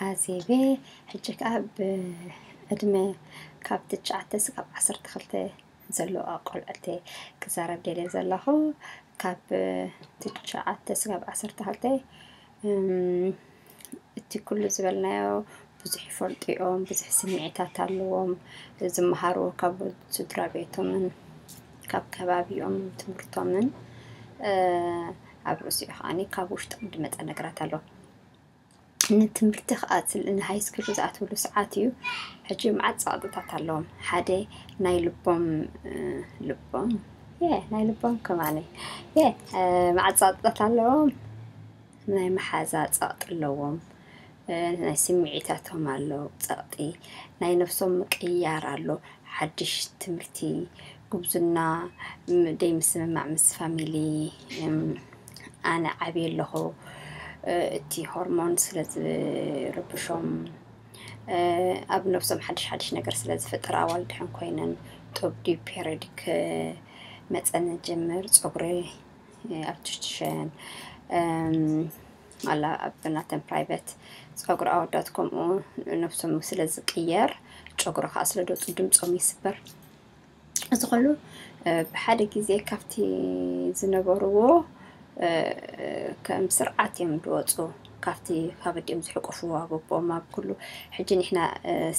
ኣዜቤ ሕጂ ከኣ ብዕድመ ካብ ትሽዓተ ስጋብ ዓሰርተ ክልተ ዘሎ ቆልዑት ክዛረብ ደልየ ዘለኹ ካብ ትሽዓተ ስጋብ ዓሰርተ ክልተ እቲ ኩሉ ዝበልናዮ ብዙሕ ይፈልጡ እዮም፣ ብዙሕ ስምዒታት ኣለዎም፣ ዝመሃሩ ካብ ስድራ ቤቶምን ካብ ከባቢኦም ትምህርቶምን ኣብ ርእሲኡ ከዓኒ ካብ ውሽጦም ዝመጸ ነገራት ኣሎ። ንትምህርቲ ክኣትል ን ሃይስኩል ዝኣትውሉ ሰዓት እዩ ሕጂ መዓት ጸቕጥታት ኣለዎም ሓደ ናይ ልቦም ልቦም የ ናይ ልቦም ከማነ የ መዓት ጸቕጥታት ኣለዎም ናይ መሓዛ ጸቕጢ ኣለዎም ናይ ስምዒታቶም ኣሎ ጸቕጢ ናይ ነፍሶም ምቅይያር ኣሎ ሓድሽ ትምህርቲ ጉብዝና ደይምስምማዕ ምስ ፋሚሊ። ኣነ ዓብየ ኣለኹ እቲ ሆርሞን ስለዝርብሾም ኣብ ነብሶም ሓድሽ ሓድሽ ነገር ስለ ዝፍጥር ኣዋል ድሕን ኮይነን ጡብ ድዩ ፔሬዲክ መፀን ጀምር ፀጉሪ ኣርቲፊሻል ኣላ ኣብናተን ፕራይቨት ፀጉሪ ኣወዳት ከምኡ ነብሶም ስለ ዝቅየር ጨጉሪ ከዓ ስለ ዝወፁ ድምፆም ይስበር። እዚ ኩሉ ብሓደ ግዜ ካብቲ ዝነበርዎ ከም ስርዓት እዮም ዝወፁ ካብቲ ካብ ኣዲኦም ዝሕቆፍዎ ኣብ ኣቦኦም ኣብ ኩሉ ሕጂ ንሕና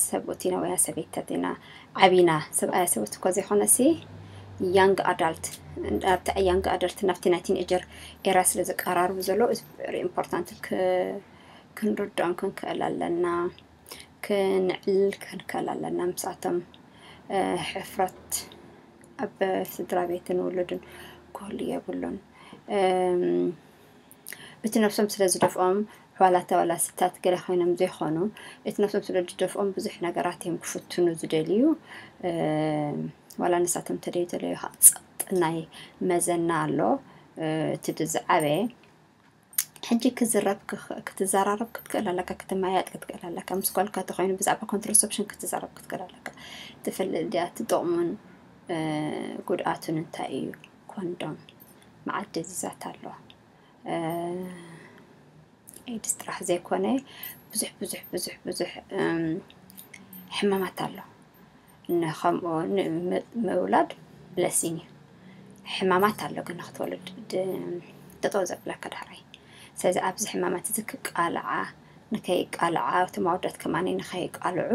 ሰብኡት ኢና ወያ ሰበይታት ኢና ዓቢና ሰብኣያ ሰብኡት እኮ ዘይኮነሲ ያንግ ኣዳልት ኣብቲ ያንግ ኣዳልት ናብቲ ናይ ቲንኤጀር ኤራ ስለ ዝቀራርቡ ዘሎ ኢምፖርታንት ክንርድኦም ክንክእል ኣለና ክንዕልል ክንከል ኣለና ምስኣቶም ሕፍረት ኣብ ስድራ ቤትን ውሉድን ክህሉ የብሉን እቲ ነፍሶም ስለ ዝደፍኦም ዋላ ተዋላ ስታት ገለ ኮይኖም ዘይኮኑ እቲ ነፍሶም ስለ ዝደፍኦም ብዙሕ ነገራት እዮም ክፍትኑ ዝደልዩ ዋላ ንሳቶም ተደይ ተለዩ ጸጥ ናይ መዘና ኣሎ እቲ ድዝዓበየ ሕጂ ክትዝረብ ክትዘራረብ ክትክእል ኣለካ፣ ክትመያየጥ ክትክእል ኣለካ፣ ምስ ጓልካ እንተኾይኑ ብዛዕባ ኮንትራሰፕሽን ክትዘረብ ክትክእል ኣለካ። ትፈልጥ ድያ እቲ ጥቕሙን ጉድኣቱን እንታይ እዩ? ኮንዶም መዓት ደዚዛት ኣሎ ኤድስ ጥራሕ ዘይኮነ ብዙሕ ብዙሕ ብዙሕ ብዙሕ ሕማማት ኣሎ። ን ከምኡ ን ምውላድ ብለሲን እዩ ሕማማት ኣሎ ግን ንክትወልድ ድ ጠጠው ዘብለካ ዳሕራይ ስለዚ ኣብዚ ሕማማት እዚ ክቃልዓ ንከይቃልዓ እቶም ኣወዳት ከማኒ ንከይቃልዑ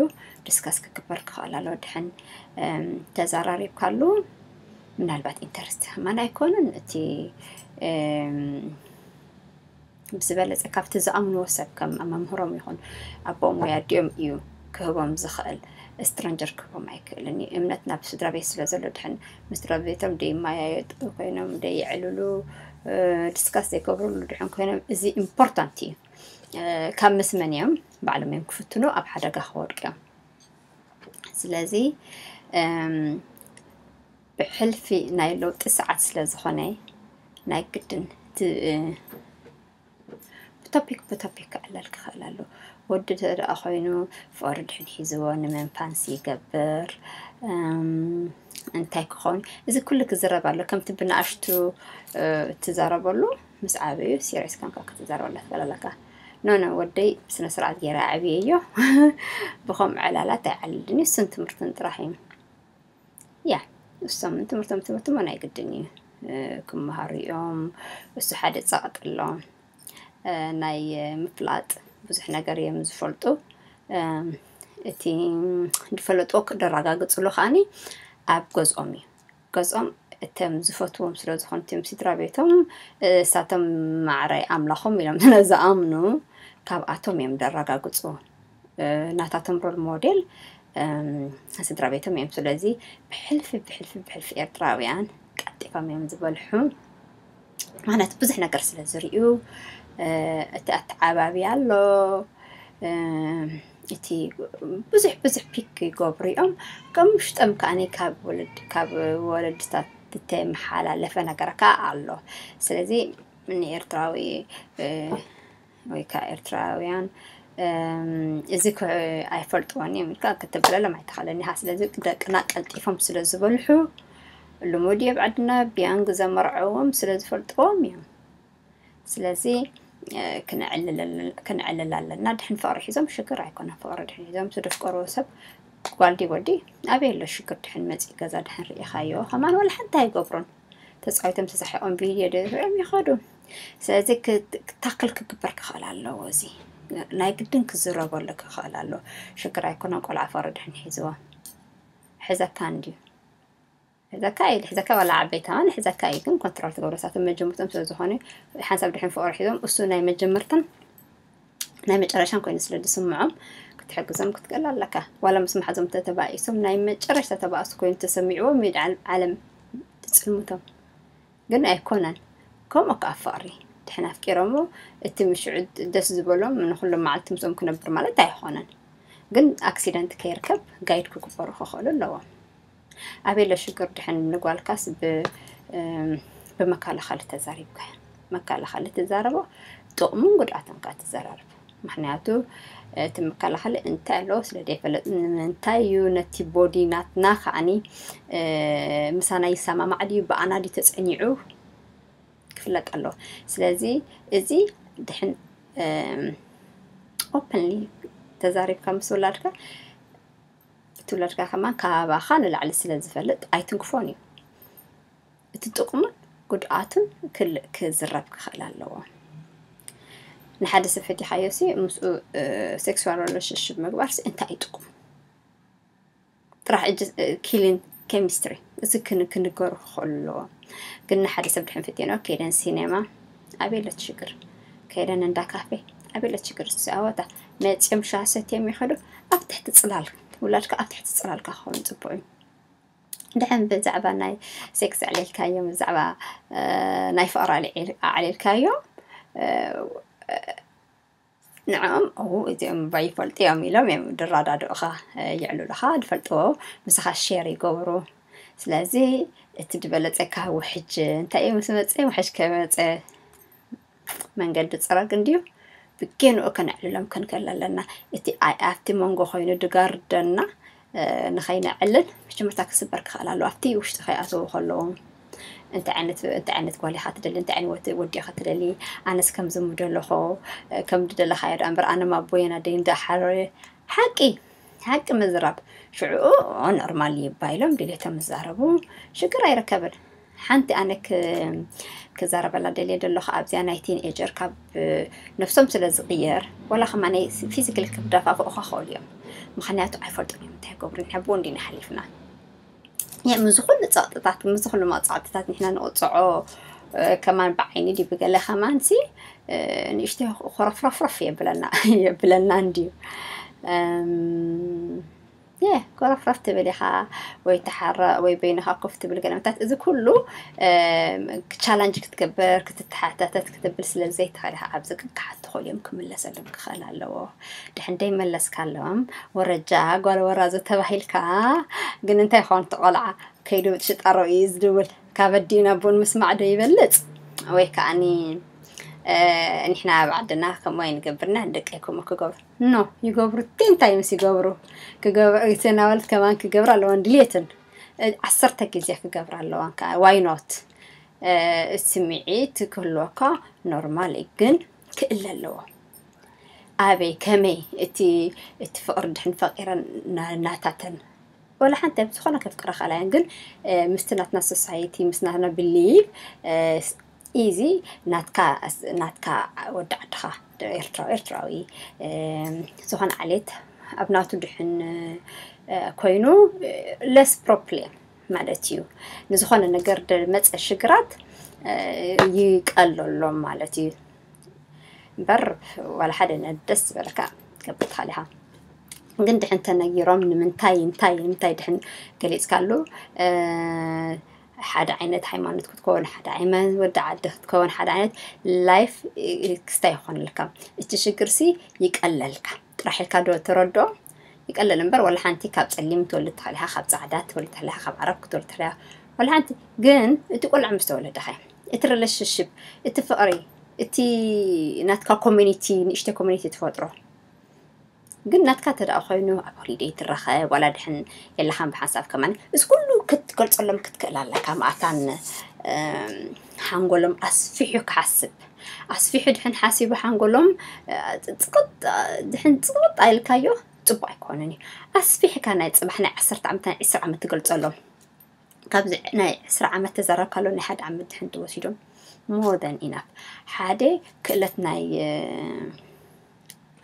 ዲስከስ ክግበር ክኽእል ኣለዎ ድሕን ተዛራሪብካሉ ምናልባት ኢንተረስቲ ከማን ኣይኮኑን እቲ ብዝበለፀ ካብቲ ዝኣምንዎ ሰብ ከም መምህሮም ይኹን ኣቦኦም ወይ ኣዲኦም እዩ ክህቦም ዝኽእል ስትረንጀር ክህቦም ኣይክእልን እዩ እምነት ናብ ስድራ ቤት ስለ ዘሎ ድሕን ምስ ስድራ ቤቶም ደይማያየጡ ኮይኖም ደይዕልሉ ዲስካስ ዘይገብርሉ ድሕን ኮይኖም እዚ ኢምፖርታንት እዩ ካብ ምስመን እዮም ባዕሎም እዮም ክፍትኑ ኣብ ሓደጋ ክወድቅ እዮም ስለዚ ብሕልፊ ናይ ለውጢ ሰዓት ስለ ዝኾነ ናይ ግድን ብቶፒክ ብቶፒክ ክዕለል ክኽእል ኣሎ ወዲ ተደኣ ኮይኑ ፍቅሪ ድሕን ሒዝዎ ንመንፋንስ ይገብር እንታይ ክኸውን እዚ ኩሉ ክዝረብ ኣሎ ከምቲ ብንኣሽቱ ትዛረበሉ ምስ ዓበዩ ሲሪየስ ከምካ ክትዛረበላ ትኽእል ኣለካ ኖ ኖ ወደይ ብስነ ስርዓት ገይረ ኣዕብየዮ ብኸምኡ ዕላላት ኣይዓልልን እዩ እሱን ትምህርትን ጥራሕ እዩ ያ ንሶም ትምህርቶም ትምህርቶም ናይ ግድን እዩ ክመሃሩ እዮም እሱ ሓደ ጸቕጢ ኣለዎም ናይ ምፍላጥ ብዙሕ ነገር እዮም ዝፈልጡ እቲ ዝፈለጥዎ ክደራጋግጽሉ ከዓኒ ኣብ ገዝኦም እዩ ገዝኦም እቶም ዝፈትዎም ስለ ዝኾኑ እቶም ስድራ ቤቶም ንሳቶም ማዕረ ኣምላኾም ኢሎም ስለ ዝኣምኑ ካብኣቶም እዮም ዘራጋግጹ። ናታቶም ሮል ሞዴል ስድራ ቤቶም እዮም ስለዚ ብሕልፊ ብሕልፊ ብሕልፊ ኤርትራውያን ቀልጢፎም እዮም ዝበልሑ ማለት ብዙሕ ነገር ስለ ዝርእዩ እቲ ኣተዓባቢ ኣሎ እቲ ብዙሕ ብዙሕ ፒክ ይገብሩ እዮም ከም ውሽጦም ከዓኒ ካብ ወለድ ካብ ወለድታት እተመሓላለፈ ነገር ከዓ ኣሎ ስለዚ ንኤርትራዊ ወይ ከዓ ኤርትራውያን እዚ ኣይፈልጥዎን እዮም ኢልካ ክትብለሎም ኣይትኽእልን ኢኻ። ስለዚ ደቅና ቀልጢፎም ስለ ዝበልሑ ልሙድ እየ ብዓድና ቢያንግ ዘመርዐዎም ስለ ዝፈልጥዎም እዮም። ስለዚ ክነዕልል ኣለና። ድሕን ፍቕሪ ሒዞም ሽግር ኣይኮነን። ፍቕሪ ድሕን ሒዞም ዝደፍቀሩ ሰብ ጓልዲ ወዲ ኣበይ ኣሎ ሽግር ድሕን መፂእ ገዛ ድሕን ርኢኻዮ ከማን ወላ ሓንቲ ኣይገብሩን። ተፃዊቶም ተሳሒቆም ቪድዮ ዶ ይርኦም ይኸዱ ስለዚ ክታክል ክግበር ክኽእል ኣለዎ እዚ ናይ ግድን ክዝረበሉ ክኽእል ኣለዎ ሽግር ኣይኮነን ቆልዓ ፈረድሕን ሒዝዎ ሕዘካ እንድዩ ሕዘካ እዩ ልሕዘካ ዋላ ዓበይታ ውን ሕዘካ እዩ ግን ኮንትሮል ትገብረሳቶም መጀመርቶም ስለ ዝኾነ ሓንሳብ ድሕን ፍቅሪ ሒዞም እሱ ናይ መጀመርትን ናይ መጨረሻን ኮይኑ ስለ ዝስምዖም ክትሕግዞም ክትገል ኣለካ ዋላ ምስ ማሓዞም ተተባኢሶም ናይ መጨረሻ ተባእሱ ኮይኑ ተሰሚዕዎ ሚድ ዓለም ትፅልምቶም ግን ኣይኮነን ከምኡ ከዓ ፍቅሪ ድሕን ኣፍቂሮሞ እቲ ምሽዑ ደስ ዝበሎም ንኩሎም መዓልቲ ምስኦም ክነብር ማለት ኣይኮነን ግን ኣክሲደንት ከይርከብ ጋይድ ክግበሩ ክኽእሉ ኣለዎም ኣቤለ ሽግር ድሕን ንጓልካስ ብመከላኸሊ ተዛሪብካ መከላኸሊ ትዛረቦ ጥቕሙን ጉድኣትን ካ ትዘራርብ ምክንያቱ እቲ መከላኸሊ እንታይ ኣለዎ ስለ ዘይፈለጥ ንምንታይ እዩ ነቲ ቦዲ ናትና ከዓኒ ምሳና ይሰማማዕ ድዩ ብኣና ድዩ ተፀኒዑ ክፍለጥ ኣለዎ ስለዚ እዚ ድሕን ኦፕንሊ ተዛሪብካ ምስ ወላድካ እቲ ውላድካ ከማን ካባኻ ንላዕሊ ስለ ዝፈልጥ ኣይትንክፎን እዩ። እቲ ጥቕሙን ጉድኣቱን ክል ክዝረብ ክኽእል ኣለዎ። ንሓደ ሰብ ፈቲሓዮሲ ምስኡ ሴክስዋል ሪሌሽንሽፕ ምግባርሲ እንታይ እዩ ጥቕሙ? ጥራሕ እጅ ኪሊን ኬሚስትሪ እዚ ክን ክንገሩ ክኽእሉ ኣለዎም። ግን ንሓደ ሰብ ድሕን ፈቲኖ ከይደን ሲኔማ ኣበይ ኣሎ እቲ ሽግር? ከይደን እንዳ ካፌ ኣበይ ኣሎ እቲ ሽግር? እስቲ ኣወታ መጺኦም ሻሂ ሰትዮም ይኸዱ። ኣብ ትሕቲ ጽላል ውላድካ ኣብ ትሕቲ ጽላልካ ክኸውን ጽቡቕ እዩ። ድሕን ብዛዕባ ናይ ሴክስ ኣዕሊልካዮም ብዛዕባ ናይ ፍቕሪ ኣዕሊልካዮም ንዕኦም እዉ እዚኦም እባ ይፈልጡ እዮም ኢሎም እዮም ድራዳድኡኻ የዕሉልኻ ድፈልጥዎ ምሳኻ ሸር ይገብሩ ስለዚ እቲ ድበለጸካ ውሕጅ እንታይ እዩ ምስ መጸ ውሕጅ ከመጸ መንገዲ ጽረግ እንድዩ ብጌንኡ ከነዕልሎም ክንክእል ኣለና እቲ ኣይ ኣብቲ መንጎ ኮይኑ ድጋርደና ንኸይነዕልል መቸም እታ ክስበር ክኽእል ኣለዎ ኣብቲ ውሽጢ ከይኣተዉ ከለዉ እንታይ ዓይነት እንታይ ዓይነት ጓል ኢኻ ትደሊ እንታይ ዓይነት ወዲ ኢኻ ትደሊ ኣነስ ከምዚ ምደለኹ ከም ድደለኻዮ ደኣ እምበር ኣነ ኣቦየን ኣደይን እንዳሓረየ ሓቂ ሓቂ ምዝራብ ሽዑኡ ኖርማል እዩ ባይሎም ድሌቶም ዝዛረቡ ሽግር ኣይርከብን ሓንቲ ኣነ ክዛረበላ ደልየ ደለኹ ኣብዚኣ ናይ ቲንኤጀር ካብ ነፍሶም ስለ ዝቕየር ወላ ከማ ናይ ፊዚካል ክዳፋፍኡኻ ክኸእሉ እዮም ምክንያቱ ኣይፈልጡን እዮም እንታይ ገብሩ ንሕብኡ እንዲና ሓሊፍና ምስ ዝኹሉ ፀቕጥታት ምስ ዝኹሉ መቕፃዕትታት ንሕና ንቕፅዖ ከማን ብዓይኒ ድዩ ብገለ ከማን ሲ ንእሽተ ኮረፍረፍረፍ የብለና የብለና እንድዩ የ ኮረፍረፍ ትብል ኢኻ ወይ ተሓረቕ ወይ በይንኻ ኮፍ ትብል ገለ ምታት እዚ ኩሉ ቻላንጅ ክትገብር ክትተሓታተት ክትብል ስለ ዘይትኽእል ኢኻ ኣብዚ ግን ክሓት ትኽእሉ እዮም ክምለሰሎም ክኽእል ኣለዎ ድሕን ደይመለስካሎም ወረጃ ጓል ወራዘ ተባሂልካ ግን እንታይ ኾን ትቆልዓ ከይዱ ሽጣሮ እዩ ዝድውል ካብ ኣዲኡ ናብ ቡን ምስማዕ ዶ ይበልጽ ወይ ከዓኒ ንሕና ኣብ ዓድና ከምኡ ኣይንገብርና ደቀይኩም ክገብሩ ኖ ይገብሩ እንታይ ምስ ይገብሩ ክገብሩ ሰናወልት ከማን ክገብሩ ኣለዋን ድልየትን ዓሰርተ ግዜ ክገብሩ ኣለዋን ከዓ ዋይ ኖት ስምዒት ክህልወካ ኖርማል እዩ ግን ክእለ ኣለዎ ኣበይ ከመይ እቲ እቲ ፍቕሪ ድሕን ፈቂረን ናታተን ወላ ሓንቲ ኣብ ዝኾነ ከፍቅረኻ ኣላያን ግን ምስቲ ናትና ሶሳይቲ ምስ ናትና ብሊቭ ኢዚ ናትካ ናትካ ወዲ ዓድኻ ኤርትራዊ ኤርትራዊ ዝኾነ ዓሌት ኣብ ናቱ ድሕን ኮይኑ ለስ ፕሮፕሌም ማለት እዩ ንዝኾነ ነገር መፀ ሽግራት ይቀለሎም ማለት እዩ እምበር ዋላ ሓደ ደስ ዝበለካ ገብትካ ዲኻ ግን ድሕን ተነጊሮም ንምንታይ እንታይ ንምንታይ ድሕን ገሊፅካሉ ሓደ ዓይነት ሃይማኖት ክትከውን ሓደ ዓይነት ወዲ ዓዲ ክትከውን ሓደ ዓይነት ላይፍ ክስታ ይኾንልካ እቲ ሽግር ሲ ይቀለልካ ጥራሕ ኢልካ ዶ ተረድኦ ይቀለል እምበር ወላ ሓንቲ ካብ ጸሊም ትወልድ ተኽሊኻ ካብ ጻዕዳ ትወልድ ተኽሊኻ ካብ ዓረብ ክትወልድ ተኽሊኻ ወላ ሓንቲ ግን እቲ ቆልዓ ምስ ተወለደኸ እቲ ሪሌሽንሽፕ እቲ ፍቕሪ እቲ ናትካ ኮሚኒቲ ንእሽተይ ኮሚኒቲ ትፈጥሮ ግን ናትካ ተደኣ ኮይኑ ኣብ ሆሊደይ ትራኸብ ዋላ ድሕን የላኻን ብሓንሳብ ከማን እዚ ኩሉ ክትገልጸሎም ክትክእል ኣለካ መኣታን ሓንጎሎም ኣስፊሑ ክሓስብ ኣስፊሑ ድሕን ሓሲቡ ሓንጎሎም ጽቕጥ ድሕን ጽቕጥ ኣይልካዮ ጽቡቅ ኣይኮነን እዩ ኣስፊሕካ ናይ ጽባሕ ናይ ዓሰርተ ዓመት ናይ ዕስራ ዓመት ትገልጸሎም ካብዚ ናይ ዕስራ ዓመት ተዘረብካሎ ናይ ሓደ ዓመት ድሕን ትወሲዶም ሞር ን ኢናፍ ሓደ ክእለት ናይ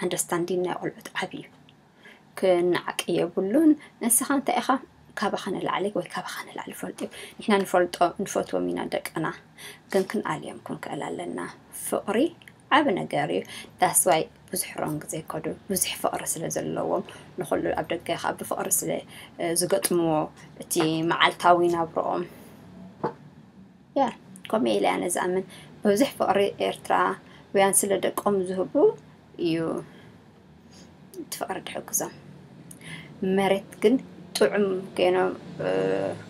ኣንደርስታንዲን ናይ ቆልዑት ዓቢ እዩ ክነዓቅ የብሉን ንስኻ እንታይ ኢኻ ካባኻ ንላዕሊ ወይ ካባኻ ንላዕሊ ፈልጡ ንሕና ንፈልጦ ንፈትዎም ኢና ደቅና ግን ክንኣልዮም ክንክእል ኣለና ፍቕሪ ዓብ ነገር እዩ ዳስዋይ ብዙሕ ሮንግ ዘይከዱ ብዙሕ ፍቕሪ ስለ ዘለዎም ንኩሉ ኣብ ደገ ካብ ብፍቕሪ ስለ ዝገጥምዎ እቲ መዓልታዊ ናብርኦም Yeah ከምኡ ኢለ ኣነ ዝኣምን ብዙሕ ፍቅሪ ኤርትራ ውያን ስለ ደቆም ዝህቡ እዩ እቲ ፍቅሪ ድሕግዞም መሬት ግን ጥዑም ገይኖም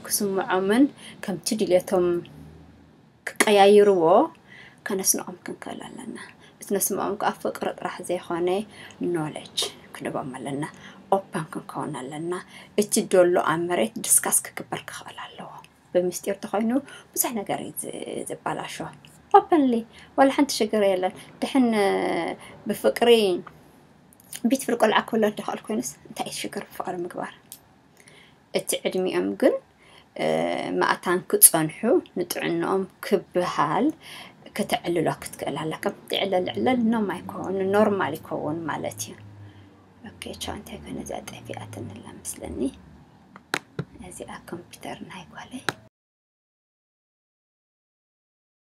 ክስምዖምን ከምቲ ድልየቶም ክቀያይርዎ ከነስንቆም ክንክእል ኣለና እቲ ነስምዖም ከዓ ፍቅሪ ጥራሕ ዘይኮነ ኖለጅ ክንቦም ኣለና ኦፐን ክንከውን ኣለና እቲ ደሎ ኣብ መሬት ድስካስ ክግበር ክኽእል ኣለዎ ብምስጢር ተኾይኑ ብዙሕ ነገር እዩ ዝበላሾ። ኦፐንሊ ዋላ ሓንቲ ሽግር የለን። ድሕን ብፍቅሪ ቤት ፍር ቆልዓ ክውለድ ድኸእል ኮይኑስ እንታይ እዩ ሽግር ብፍቅሪ ምግባር? እቲ ዕድሚኦም ግን መእታን ክጸንሑ ንጥዕንኦም ክብሃል ክተዕልሎ ክትክእል ኣለካ ትዕለል ዕለል ኖም ኣይኮኑ ኖርማል ይከውን ማለት እዩ ኦኬ ቻው እንታይ ኮነ እዚኣ ጠፊኣትኒ ኣላ ምስለኒ እዚኣ ኮምፒተር ናይ ጓለይ።